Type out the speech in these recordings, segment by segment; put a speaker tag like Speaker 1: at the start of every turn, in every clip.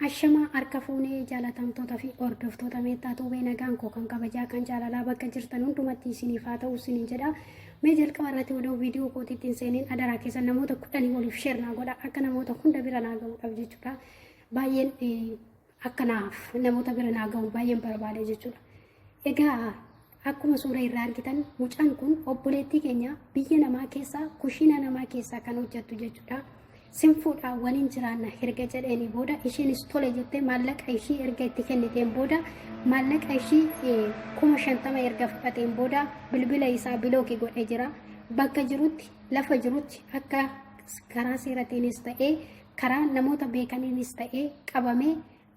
Speaker 1: Ashamaa harka fuunee jaalatamtoota fi hordoftoota meettaa tuubee nagaan koo kan kabajaa kan jaalalaa bakka jirtan hundumatti isiniif haa ta'u isiniin jedha. Mee jalqaba irratti odoo viidiyoo kootiitti hin seeniin adaraa keessan namoota kudhanii waliif sheer naa godha akka namoota hunda bira naa ga'uudhaaf jechuudha. Baay'een akka naaf namoota bira naa gahu baay'een barbaada jechuudha. Egaa akkuma suura irraa argitan mucaan kun obboleettii keenya biyya namaa keessaa kushiina namaa keessaa kan hojjettu jechuudha. Sinfuudha waliin jiraanna erga jedheeni booda isheenis tole jettee maallaqa ishii erga itti kenniteen booda maallaqa ishii eh, kuma shantama erga fudhateen booda bilbila isaa bilooki godhee jira. Bakka jirutti lafa jirutti akka karaa seeratiinis ta'ee karaa namoota beekaniinis ta'ee qabamee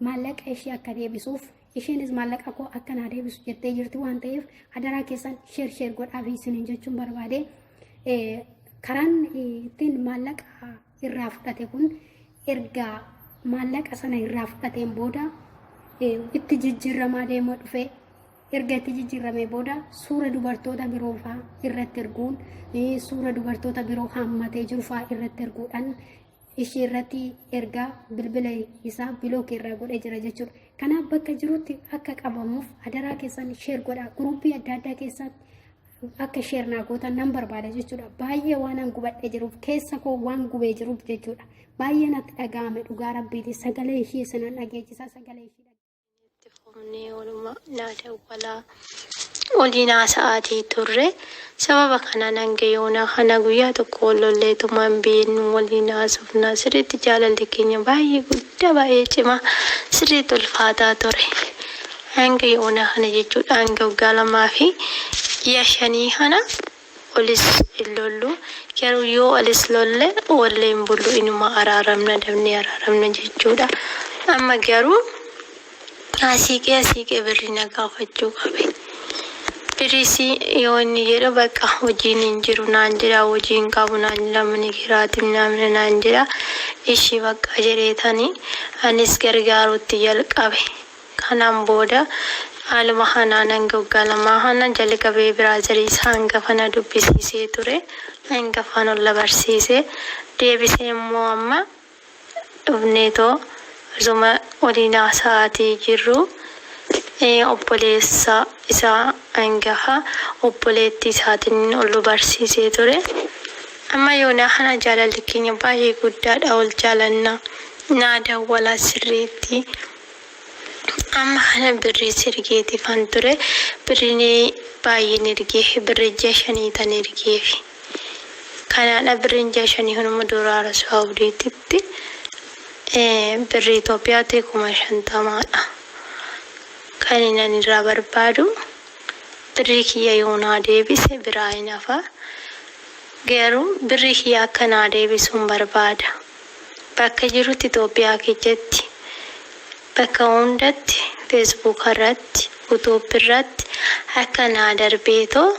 Speaker 1: maallaqa ishee akka deebisuuf isheenis maallaqa koo akka naa deebisu jettee jirti waan ta'eef adaraa keessan sheer sheer godhaa fi isiniin jechuun barbaade karaan ittiin maallaqa irraa fudhate kun erga maallaqa sana irraa fudhateen booda itti jijjiirramaa deemaa dhufe erga itti jijjiirramee booda suura dubartoota biroo faa irratti erguun suura dubartoota biroo hammatee jiru faa irratti erguudhaan ishii irratti ergaa bilbila isaa bilook irraa godhee jira jechuudha. Kanaaf bakka jirutti akka qabamuuf adaraa keessan sheer godha. Guruuppii adda addaa keessatti akka sheer naa gootan nan barbaada jechuudha. Baay'ee waan an gubadhee jiruuf keessa koo waan gubee jiruuf jechuudha. Baay'ee natti dhaga'ame dhugaa rabbiiti sagalee ishii isinan dhageechisa sagalee ishii. Itti fufnee
Speaker 2: oluma naa dawwalaa waliin haasa'aatii turre. Sababa kanaan hanga yoonaa kana guyyaa tokko wal lolleetuma hin beeknu waliin haasofna. Sirriitti jaalalli keenya baay'ee guddaa baay'ee cimaa sirriitti ulfaataa ture. Hanga yoonaa kana jechuudha hanga waggaa lamaa fi ji'a shanii kana Walis hin lollu. Garuu yoo walis lolle wallee hin bullu inuma araaramna dhabnee araaramna jechuudha. Amma garuu naa siiqee siiqee birrii na gaafachuu qabe. Birrii si yoo inni jedhu bakka hojiin hin jiru naan jedha hojii hin qabu naan jedha mani kiraati minaamina naan jedha ishii bakka jedheetani anis gargaaruutti jalqabe. Kanaan booda haaluma kanaan hanga waggaa lamaa kana jalqabee biraazari isa hangafa na dubbisiisee ture. Hangafaan ol na barsiise. Deebisee immoo amma dhufneetoo osuma waliin haasa'aatii jirruu obboleessa isaa hangafa obboleettii isaatiin ol nu barsiisee ture. Amma yoonaa kana jaalalli keenya baay'ee guddaadha, wal jaalanna, naa dawwala sirriitti. Amma kana birrii si ergeetiifan ture. Birriin baay'een ergeefi. Birrii ji'a shanii tan ergeefi. Kanaadha birriin ji'a shanii kun immoo dolaara Saawudiititti birrii Itoophiyaatti kuma shantamaadha. Kan inni ani irraa barbaadu birrii kiyya yoo naa deebise biraa hin hafa. Garuu birrii kiyya akka naa deebisu hin barbaada. bakka jirutti Itoophiyaa kechatti bakka hundatti Facebook irratti YouTube irratti akka naa darbeetoo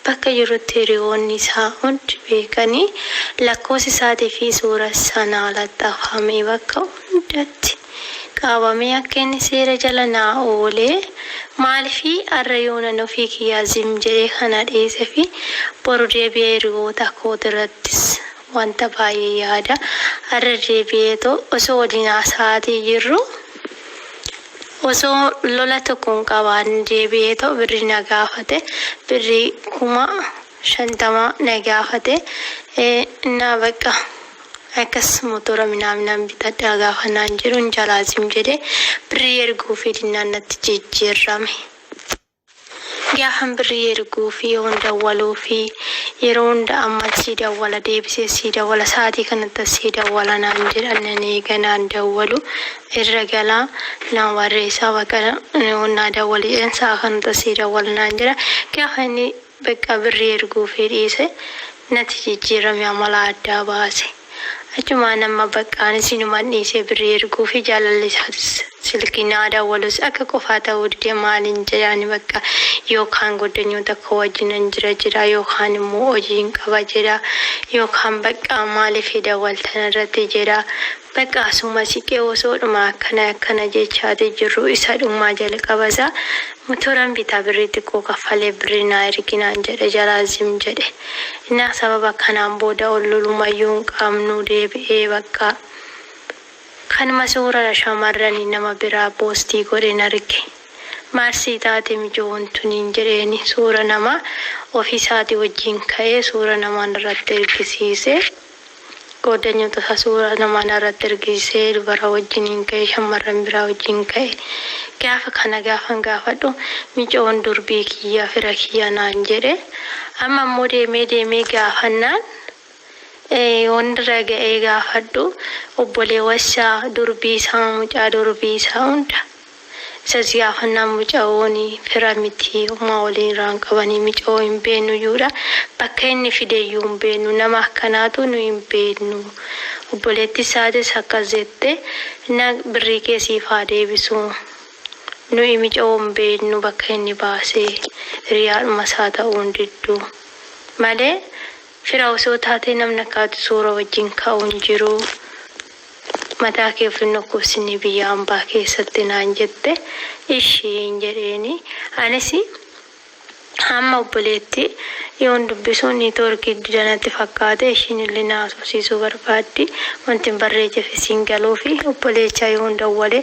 Speaker 2: bakka jirutti hiriyoonni isaa hundi beekanii lakkoofsa isaatii fi suura isaa naa laxxafamee bakka hundatti qaabamee akka inni seera jala naa oolee maalifi arra yoonan ofii kiyyaa zim jedhee kana dhiisefi boru deebi'ee hiriyoota kootirrattis Wanta baay'ee yaada. Irra deebi'eetu osoo waliin haasa'aatii jirruu osoo lola tokko hin qabaanne deebi'eetoo birrii na gaafate. Birrii kuma shantama na gaafate. Innaa bakka akkas motora minaaminaan bitadhaa gaafa naan jedhu hin jalaa zim jedhee birrii erguufii dinnaan natti jijjiirrame. Gaafan birrii erguu fi yoon dawwaluu fi yeroo hunda amman sii dawwala deebisee sii dawwala sa'aatii kanattan sii dawwala naan jedha nan eega naan dawwalu irra gala nan barreessa bakka yoon naa dawwali jedheen sa'a kanattan sii dawwala naan jedha gaafa inni Beqqaa birrii erguufii dhiise nati jijjiirame amala addaa baase. Achumaan amma Baqqaanis inuman dhiisee birrii erguufii jaalalli isaatis silkii naa dawwalus akka qofaa ta'uu dide maalin jedha ani bakka yoo kaan goddanyoota koo wajjinan jira jedha yoo kaan immoo hojiin qaba jedha yoo kaan Baqqaa maaliif hin dawwaltan irratti jedha Bakka asuma siqee osoodhuma akkana akkana jechaati jirru isa dhummaa jalqaba isaa motoran bitaa birrii xiqqoo kaffalee birrii naa ergi naan jedhe jalaa zim jedhe. Innaa sababa kanaan booda ol lolumayyuu hin qabnu deebi'ee bakka kanuma suurara shamarrani nama biraa poostii godhen arge. Maal sii taate mijoon tuniin jedheeni suura namaa ofiisaati wajjiin ka'ee suura namaan irratti ergisiise. Qooddanyoota isaa suuraa namaa narratti argisiisee dubara wajjiniin ka'e, shammarran biraa wajjin ka'e. Gaafa kana gaafan gaafadhu micoon durbii kiyya, fira kiyya naan jedhe. Amma immoo deemee deemee gaafannaan yoon irra ga'ee gaafadhu obboleewwan isaa, durbii isaa, mucaa durbii isaa hunda Isa siyaa fannaan mucaooni fira miti homaa waliin iraa hin qabani micao hin beenu yuu dha bakka inni fide yuu hin beenu nama akkanaatu nu hin beenu obboleetti isaatis akkas jette na birrii kee siif haa deebisu nu'i micao hin beenu bakka inni baase hiriyaadhuma isaa ta'uu hin diddu malee Fira osoo taatee namni akka ati suura wajjin ka'u hin jiru. Mataa kee of hin dhukkubsinii biyya ambaa keessatti naan jette. Ishiin jedheeni. Anis amma obboleetti yoon dubbisu niitoorkii dida natti fakkaate ishiin illee na haasofsiisuu barbaaddi. Wanti hin barreechefis hin galuufi. Obboleecha yoon dawwale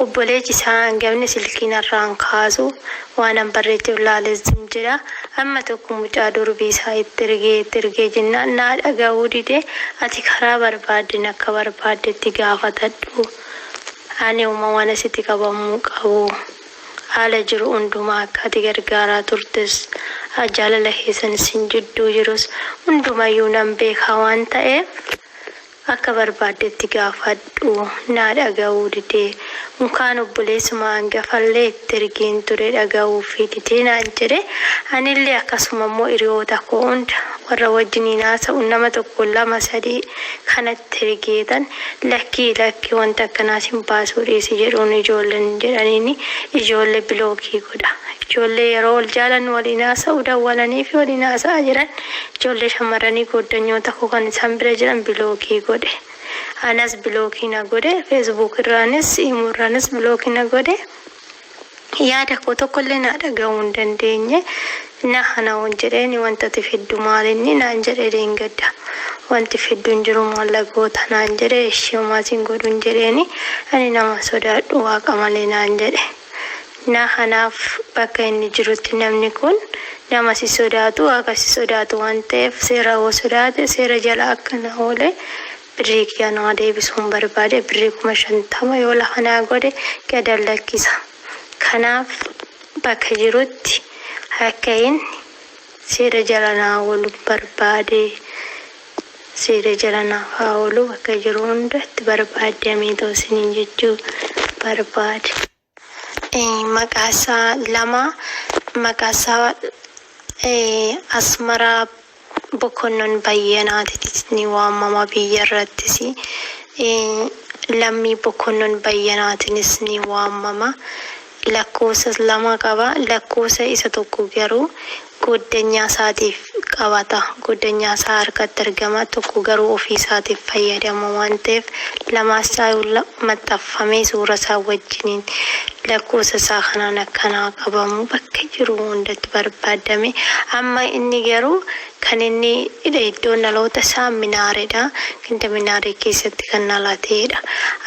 Speaker 2: obboleechi isaa hangafni silkii narraa hin kaasu. Waanan barreecheef laale zim jedha. Amma tokko mucaa durbii isaa itti ergee itti ergee jennaan naa dhagahuu dide ati karaa barbaaddeen akka barbaaddetti gaafatadhu ani homa wana siti qabamuu qabu haala jiru hundumaa akka ati gargaaraa turtes jaalala keessan isin jidduu jirus hundumayyuu nan beekaa waan ta'eef Akka barbaaddetti gaafadhu naa dhaga'uu dide. Unkaan obboleessuma angafallee itti ergeen ture dhaga'uufii dide naan jedhe. Anillee akkasuma immoo hiriyoota koo hunda warra wajjiniin haasa'u nama tokko lama sadii kanatti ergeetan lakkii lakkii wanta akkanaa sin baasuu dhiisi jedhuun ijoolleen jedhaniini ijoollee bilookii godha. Ijoollee yeroo wal jaalannu waliin haasa'u dawwalaniifi waliin haasa'aa jiran Ijoollee shammarranii gooddanyoota koo kan isaan bira jiran bilookii godhe. Anas bilookii na godhe. Facebook irraanis, Imo irraanis bilookii na godhe. Yaada koo tokko illee naa dhagahuu hin dandeenye. Na hana'uun jedheeni wanta ati fiddu maalinni naan jedhe dheengadda. Wanti fiddu hin jiru maalla goota naan jedhe. Eshi homaa sin godhun jedheeni. Ani naman sodaadhu waaqa malee naan jedhe. na kanaaf bakka inni jirutti namni kun nama si sodaatu waaqa si sodaatu waan ta'eef seera hoo sodaate seera jala akka na oole birrii kiyya naa deebisuun barbaade birrii kuma shantama yoo lafa naa godhe gadan lakkisa kanaaf bakka jirutti akka inni seera jala naa oolu barbaade Siire jala naaf haa oolu bakka jiru hundatti barbaaddi ameen ta'u siniin jechuu barbaad. Maqaa isaa lama maqaa isaa Asmaraa Bokonnon Bayyanaatitis ni waamama biyya irrattis Lammii Bokonnon Bayyanaatinis ni waamama lakkoofsa lama qaba. Lakkoofsa isa tokko garuu goddanyaa isaatiif qabata. Goddanyaa isaa harkatti argama. Tokko garuu ofii isaatiif fayyadama waan ta'eef lamaas caala maxxanfamee suura isaa wajjiniin lakkoofsa isaa kanaan akkanaa qabamu bakka jiru hundatti barbaadame. Amma inni garuu Kan inni hidhe iddoon dhaloota isaa Minaaree dha. Ganda Minaaree keessatti kan dhalate dha.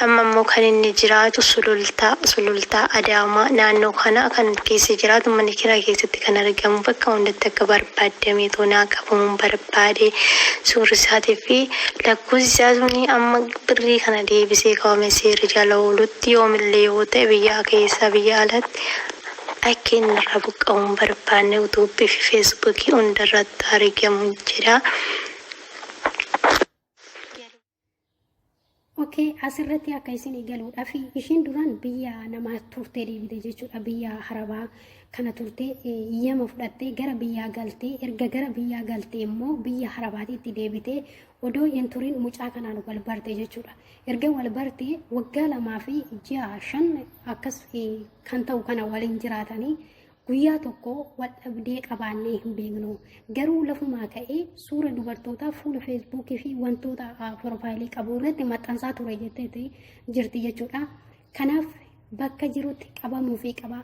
Speaker 2: Amma immoo kan inni jiraatu Sulultaa, Sulultaa, Adaamaa naannoo kana kan keessa jiraatu mana kiraa keessatti kan argamu bakka hundatti akka barbaaddamee too naa qabamuun barbaade suurri isaatii fi lakkoofsi isaa suni amma birrii kana deebisee qabame seera jala oolutti yoomillee yoo ta'e biyyaa keessa biyya alatti Akka inni irraa buqqa'uu hin barbaanne utuubbii fi feesbuukii hunda irratti argamu jira.
Speaker 1: Okay, asirratti akka isin eegaluudha fi ishiin duraan biyya namaa turtee deebite jechuudha biyya harabaa kana turtee iyyama fudhattee gara biyyaa galtee erga gara biyyaa galtee immoo biyya harabaatiitti deebitee odoo hin turin mucaa kanaan wal barte jechuudha. Erga wal bartee waggaa lamaa fi ji'a shan akkas kan ta'u kana waliin jiraatanii guyyaa tokko wal dhabdee qabaannee hin beeknu. Garuu lafumaa ka'ee suura dubartootaa fuula feesbuukii fi wantoota piroofaayilii qabu irratti maxxansaa ture jetteeti jirti jechuudha. Kanaaf bakka jirutti qabamuu fi qaba.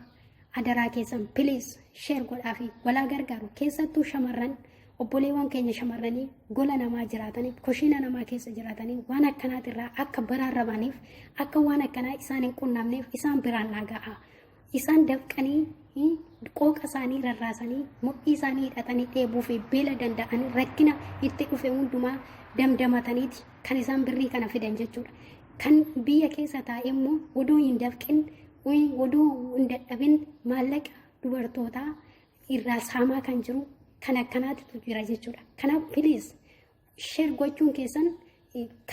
Speaker 1: Adaraa keessan piliis sheer godhaa fi walaa gargaaru keessattuu shamarran obboleewwan keenya shamarranii gola namaa jiraatanii kushiina namaa keessa jiraatanii waan akkanaatirraa akka baraarramaniif akka waan akkanaa isaan hin qunnamneef isaan biraan naa ga'a. Isaan dafqanii eh, qooqa isaanii rarraasanii mudhii isaanii hidhatanii dheebuu fi beela danda'anii rakkina itti dhufe hundumaa damdamataniiti kan isaan birrii kana fidan jechuudha. Kan biyya keessa taa'e immoo odoo hin dafqin eh, odoo hin dadhabin maallaqa dubartootaa irraa saamaa kan jiru kan akkanaatitu jira jechuudha. Kanaaf piliis sheer gochuun keessan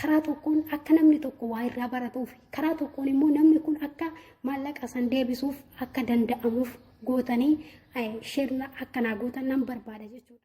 Speaker 1: karaa tokkoon akka namni tokko waa irraa baratuuf karaa tokkoon immoo namni kun akka maallaqa san deebisuuf akka danda'amuuf gootanii sheerna akkanaa gootan nan barbaada jechuudha.